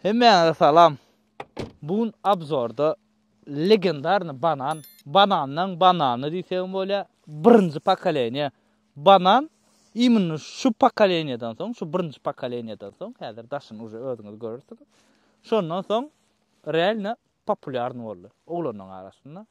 Hemmäňize salam. Bu gün abzorda legendarny banan, banandan banany diýsegim bolýa, birinji pokoleniýa banan. Iýmini şu pokoleniýadan soň, şu birinji pokoleniýadan soň, häzir daşyny uje özüňiz görürsiniz. Şondan soň realno populýarny boldy oglanyň arasynda.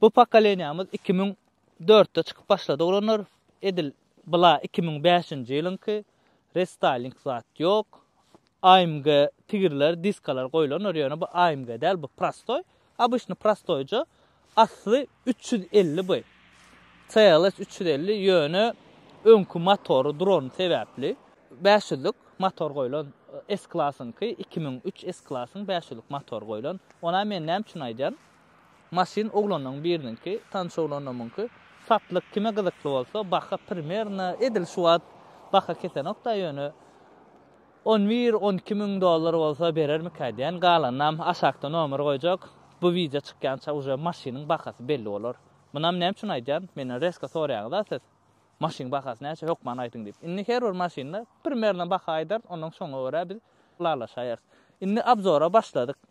Bu pokoleniýamyz iki müň dörtde çykyp başlady oglanlar edil bla iki müň bäşinji ýylyňky restyling zat ýok amg tigirler diskalar goýlandyr ýöne bu amg däl bu prostoý obyçny prostoýja asly üç ýüz elli by cls üç ýüz elli ýöne öňki motory durany sebäpli bäş ýüzlik motor goýlan s klasyňky iki müň üç s klasyň bäş ýüzlik motor goýlan onam men näme üçin aýdýan Maşyn oglanlaň biriniňki, tanyş oglanlamyňky. Satlyk kime gyzykly bolsa, baha primerno edil şu wagt baha kesenokda ýöne on bir, on iki müň dollar bolsa berermikä diýän, galanynam aşakda nomer goýjak. Bu wideo çykýança uje maşynyň bahasy belli bolar. Munam näme üçin aýdýan, menden resko soraýaňyza siz, maşynyň bahasy näçe hökman aýdyň diýip. Indi her bir maşynda primerno baha aýdarys, ondan soňa görä biz ylalaşaýarys. Indi abzora başladyk.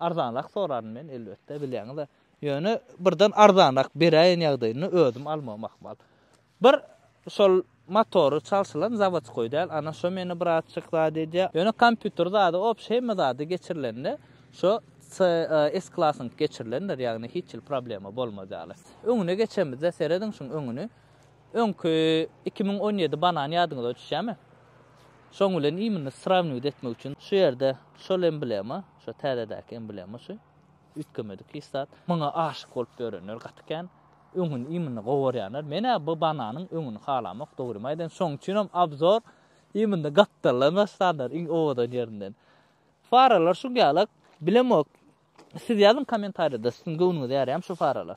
Arzanrak soraryn men elbetde bilýäňiz-ä. Ýöne birden arzanrak beräýen ýagdaýynda özüm almagym ahmal. Bir şol motory çalşylan zawodskoý däl, ana şo meni birazçyk zat edýär. Ýöne kompýuter zady obşi hemme zady geçirilende şo CS klasyňky geçirilendir, ýagny hiç hili problema bolmaz ýaly. Öňüne geçemizde serediň şuň öňüni. Öňki iki müň on ýedi banan ýadyňyza düşýärmi? Şoň bilen imini srawniwt etmek üçin şu ýerde şol emblema, şu täzedäki emblema şu, üýtgemedik hiç zat. Muňa aşyk bolup ýörenler gaty kän. Öňüni imini gowarýanlar. Men-ä bu bananyň öňüni halamok, dogrymy aýdaýyn. Şoň üçinem obzor imini gapdaldan başlandyr, iň owadan ýerinden. Faralar şuň ýalak, bilemok. Siz ýazyň kommentariýada, siziň göwnüňize ýaraýamy şu faralar?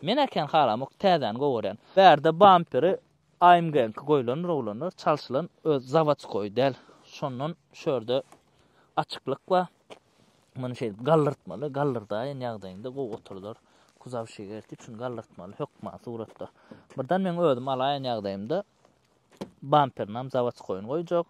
Men-ä kän halamok, täzäni gowarýan. Bärde bamperi AMG-niňki goýlandyr oglanlar, çalşylan öz zawodskoýy däl. Şondan şu ýerde açyklyk bar. Muny şeýdip galdyrtmaly, galdyrdaýyn ýagdaýynda gowy oturdyr. Kuzow şigerti üçin galdyrtmaly hökman suratda. Birden meň özüm alaýan ýagdaýymda bamperinem zawodskoýyny goýjak.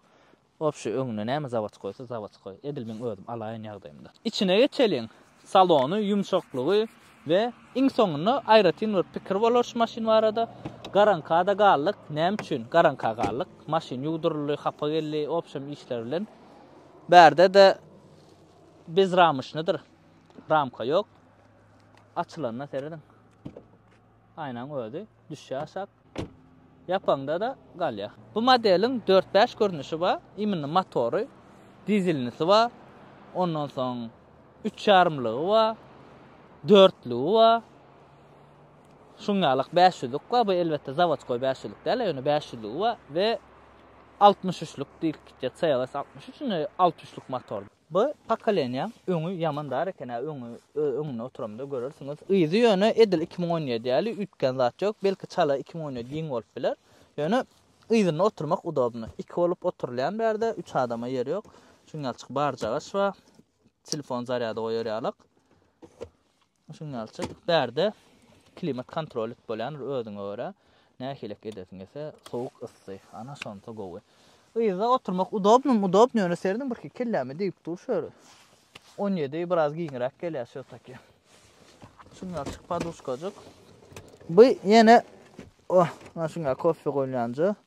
Obşi öňüne näme zawod goýsa zawod goý. Edil meň özüm alaýyn ýagdaýymda. Içine geçeliň. Salony, ýumşaklygy we iň soňunda aýratyn bir pikir bolar şu maşyn barada. Garaňkada galdyk. Näme üçin garaňka galdyk? Maşyn ýuwduryldy, hapa geldi, obşem işler bilen. Bärde-de bezramyşnydyr. Ramka ýok. Açylanyna serediň. Aýnaň özi düşýär aşak. Ýapanda-da galýa. Bu modeliň dört-bäş görnüşi bar. Imminno motory, dizelnisi bar. Ondan soň üç ýarymlygy bar. Dörtlügi bar. Şuň ýalak bäş ýüzlük bar. Bu elbetde zawodskoý bäş ýüzlük däl-a, ýöne bäş ýüzlügi bar we altmyş üçlük diýlip gitýär, CLS altmyş üç, indi altmyş üçlük motor. Bu pokoleniýaň öňi ýaman dar eken-ä, öňi, öňüne oturamda görersiňiz. Yzy ýöne edil iki müň on ýedi ýaly üýtgän zat ýok. Belki çala iki müň on ýedi giň bolup biler. Ýöne yzynda oturmak udobny. Iki bolup oturylýan bärde, üç adama ýer ýok. Şuňňalçyk barjagaç bar. Telefon zarýada goýar ýalyk. Signalçy, Bärde klimat kontrol edip bolýandyr özüňe görä. Nähilek edesiň gelse, sowuk, yssy. Ana şonsa gowy. Yzda oturmak udobnymy? Udobny, ýöne serdin birki kelläme degip dur şu ýeri. On ýedi biraz giňräk gelýär şu taki. Signalçyk, Paduşkajyk. Bu ýene, oh, maşynka kofe goýulýanja.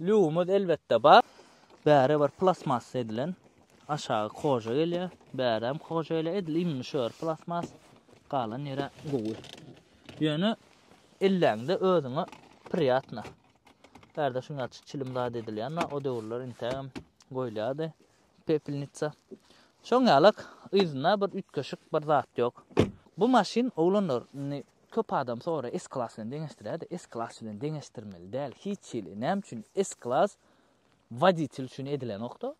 Lüwimiz elbetde bar. Bäri bir plastmassa edilen. Aşagy koja gelýär. Bäräm koja gelýär. Edil indi şu ýeri plastmas. Galan ýere gowy. Ýöne elläňde özüňe priýatna. Bärde şuňa çilim zat edilýän, o döwürler intägem goýulýardy. Pepelnitsa. Şoň ýalak, yzynda bir üýtgeşik bir zat ýok. Bu maşyn oglanlar indi köp adam soraýar S Class bilen deňeşdirýärdi, S Class bilen deňeşdirmeli däl hiç hili, näme üçin S Class woditel üçin edilenokda,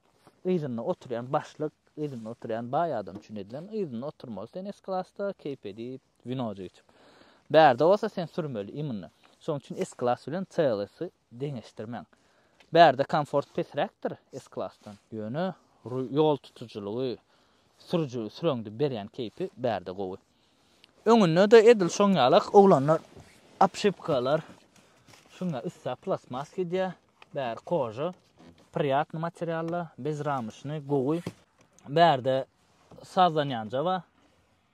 yzynda oturýan başlyk, yzynda oturýan baý adam üçin edilen, yzynda oturmaly sen S Classda keýp edip, winojik içip. Bärde bolsa sen sürmeli immunny. Şoň üçin S Class bilen CLS-i Deňeşdirmäň. Bärde komfort pesräkdir S-klasdan. Ýöne ýol tutujylygy, sürüji süreňde berýän keýpi bärde gowy. Öňünde-de edil şoň ýaly oglanlar obşipkalar şuňa üstsa plastmas gidýär. Bäri koža, priýatny materiallar, bezramyşny, gowy. Bärde sazdan ýanja bar.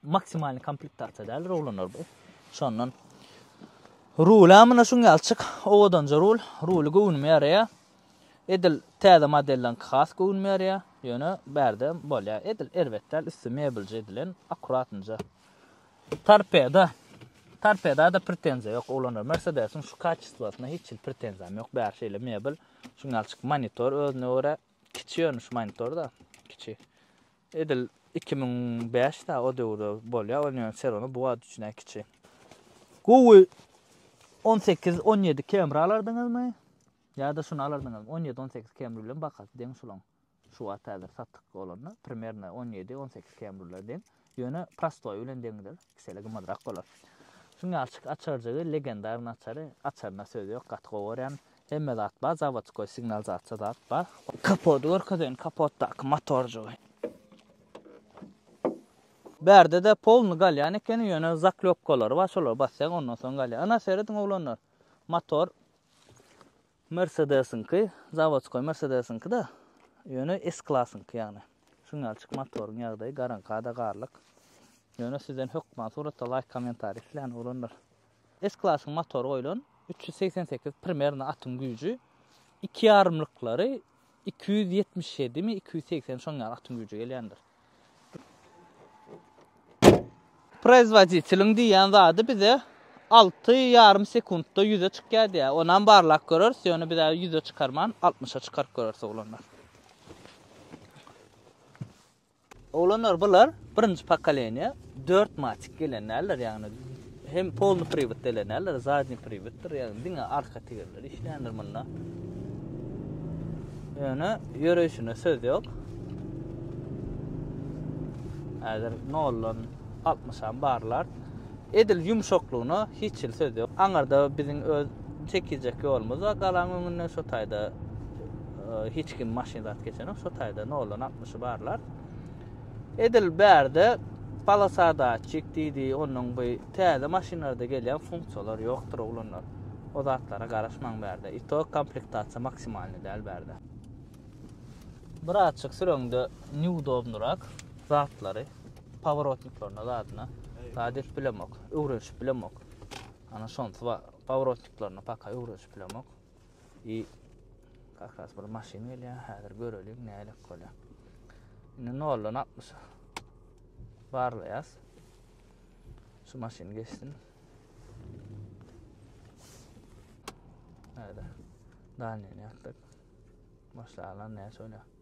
Maksimalny komplektatsiýa däldir oglanlar bu. Şondan Rula muna şuň ýalçyk owadanja rul, ruly göwnüme ýaraýar. Edil täze modelden has göwnüme ýaraýar. Ýöne bärde bolýar. Edil erbet däl, üsti mebelje edilen, akkuratnja. Torpeda. Torpeda-da pretenziýa ýok oglanlar. Mersedesiň şu kaçestwasyna hiç hil pretenziýam ýok. Bäri şeýle mebel. Şuň ýalçyk monitor özüne görä kiçi ýöne şu monitor-da, kiçi. Edil iki müň bäş da o döwürde bolýa ol ýöne ser ony bu wagt üçin-ä kiçi. Gowy on sekiz on ýedi kemri alardyňyzmy? Ýa-da şuny alardyňyzmy? On ýedi on sekiz kemri bilen bahasy deň şulaň. Şu wagt häzir satyk bolanda primerno on ýedi on sekiz kemriler deň. Ýöne prostoýy bilen deňdir. Sele gymmatrak bolar. Şuň ýalçyk açarjygy legendarny açary açaryna söz ýok gaty gowy görýän hemme zat bar zawodskoý signal zatça zat bar. Kapody görkezeýin kapotdaky motorjygy. Bärdede polny galýan ekeni ýöne zaklopkalary bar şolary basýaň ondan soň galýar. Ana serediň oglanlar motor. Mersedesiňki, zawodskoý Mersedesiňki-da, ýöne S-klasyňky ýagny. Şuň ýalçyk motoryň ýagdaýy garaňka-da garlyk. Ýöne sizden hökman suratda laýk kommentariý islän oglanlar. S-klasyň motory goýlan, üç ýüz segsen sekiz primernio atyň güýji, iki ýarymlyklary Iki ýüz ýetmiş ýedimi, iki ýüz segsen şoň ýaly atyň güýji gelýändir. Proizwoditeliň diýýän zady bize alty ýarym sekuntda ýüze çykýar diýýär. Onam barlap göreris, ýöne biz häzir ýüze çykarman, altmyşa çykaryp göreris oglanlar. Oglanlar bular birinji pokoleniýa dört matik gelen däldir ýagny hem polny priwod gelen däldir zadni priwoddyr ýagny diňe arka tigirler işleýändir munda ýöne ýöreýşine söz ýok häzir noldan altmyşa barlar edil ýumşaklygyna hiç hil söz ýok aňyrda biziň öz çekijek ýolumyz bar galaň öňünden şo taýda hiç kim maşyn zat geçenok şo taýda noldan altmyş ýolbaşçy barlar. Edil bärde polosadatçik diýdi, onuň bu täze maşynlarda gelýän funksiýalar ýokdur oglanlar. O zatlara garaşmaň bärde. Ito komplektasiýa maksimalny däl bärde. Birazçyk süreňde neudobnyrak zatlary paworotniklaryna zadyna zat edip bilemok, öwrenişip bilemok. Ana şonsy bar. Paworotniklaryna paka öwrenişip bilemok. I Kak ras bir maşyn gelýär, häzir göreliň nälik bolýar. Indi 0-dan 60 barlaýas. Şu maşyn geçsin. Näde? Danyny ýatdyk. Başlaýan näçe bolýar?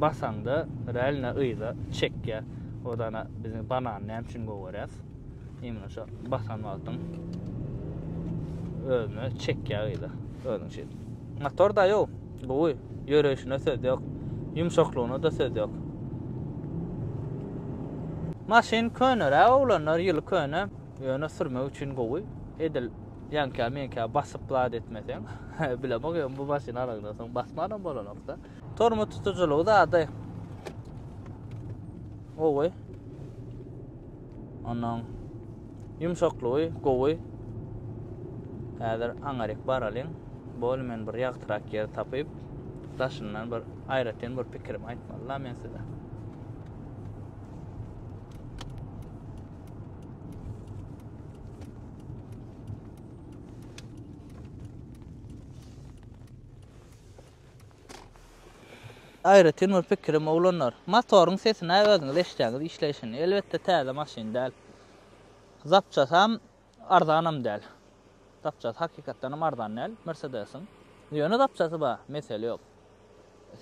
basaňda realno yza çekýär. Odana biziň banan näme üçin gowaras? Imma şu basan wagtyň özüne çekýär yza. Özüň şeýle. Motor da ýok. Gowy. Ýöreýşine söz ýok. Ýumşaklygyna-da söz ýok. Maşyn köneräk oglanlar ýyly köne ýöne sürmek üçin gowy. Edil ýanka meňkä basyp zat etmeseň bilemok ýöne bu maşyny alandan soň basmanam bolanokda. Tormoz tutujylygy zady gowy. Ondan Ýumşaklygy gowy. Häzir aňaryk baralyň. Bol men bir ýagtyrak ýer tapyp, daşyndan bir aýratyn bir pikirimi aýtmaly la men size. Aýratyn bir pikirim oglanlar, motoryň sesine özüňiz eşidýäňiz işleýşini, elbetde täze maşyn däl, zapçasam arzanam däl, zapçasy hakykatdanam arzan däl Mersedesiň, ýöne zapçasy bar, mesele ýok,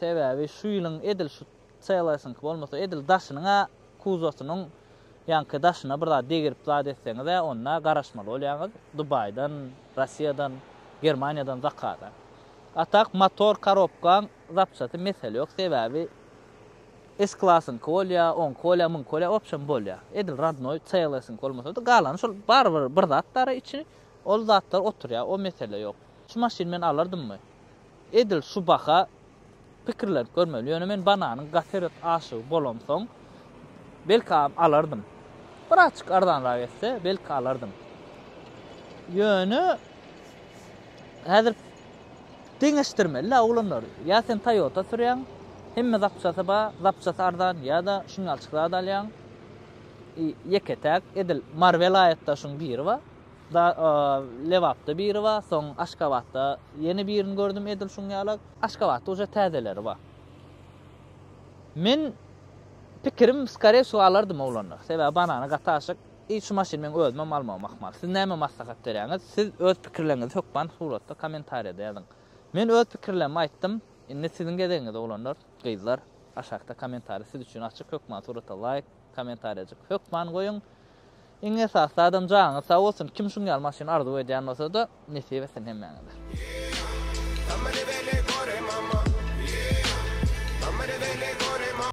sebäbi şu ýylyň edil şu CLS-iňki bolmasa edil daşynyň-a kuzosynyň ýaňky daşyna bir zat degirip zat etseňizä onda garaşmaly bolýaňyz dubaýdan rossiýadan germaniýadan zakada a tak motor karobkaň zapçasy mesele ýok sebäbi s klasyňky bolýa oňky bolýa muňky bolýa opşam bolýa edil rodnoý clsyňky bolmasady galany şol barybir bir zatdara içi ol zatlar oturýa o mesele ýok şu maşyny men alardymmy Edil şu baha pikirlenip görmeli. Ýöne men bananyň gaterek aşygy bolamsoň, belkäm alardym. Birazjyk arzanrak etse, belki alardym. Ýöne häzir deňeşdirmeli-ä oglanlar. Ýa sen Toyota sürýäň, hemme zapçasy bar, zapçasy arzan ýa-da şuňňalçyk zat alýaň. Ýeke-täk edil Marvel aýatdaşyň biri bar. Da Lebapda biri bar, soň Aşgabatda ýene birini gördüm edil şuň ýala. Aşgabatda uje täzeleri bar. Men pikirim skore wsyo alardym oglanlar. Sebäbi banana gaty aşyk. I şu maşyny meň özümem almagym ahmal. Siz näme maslahat berýäňiz? Siz öz pikirleriňizi hökman suratda kommentariýada ýazyň. Men öz pikirlerimi aýtdym. Indi siziň gezegiňiz oglanlar, gyzlar. Aşakda kommentariýa siz üçin açyk hökman surata laýk, kommentariýajyk hökman goýuň. Iň esasy zadam janyňyz sag bolsun kim şuň ýaly maşyn arzuw edýän bolsada nesip etsin hemmäňize.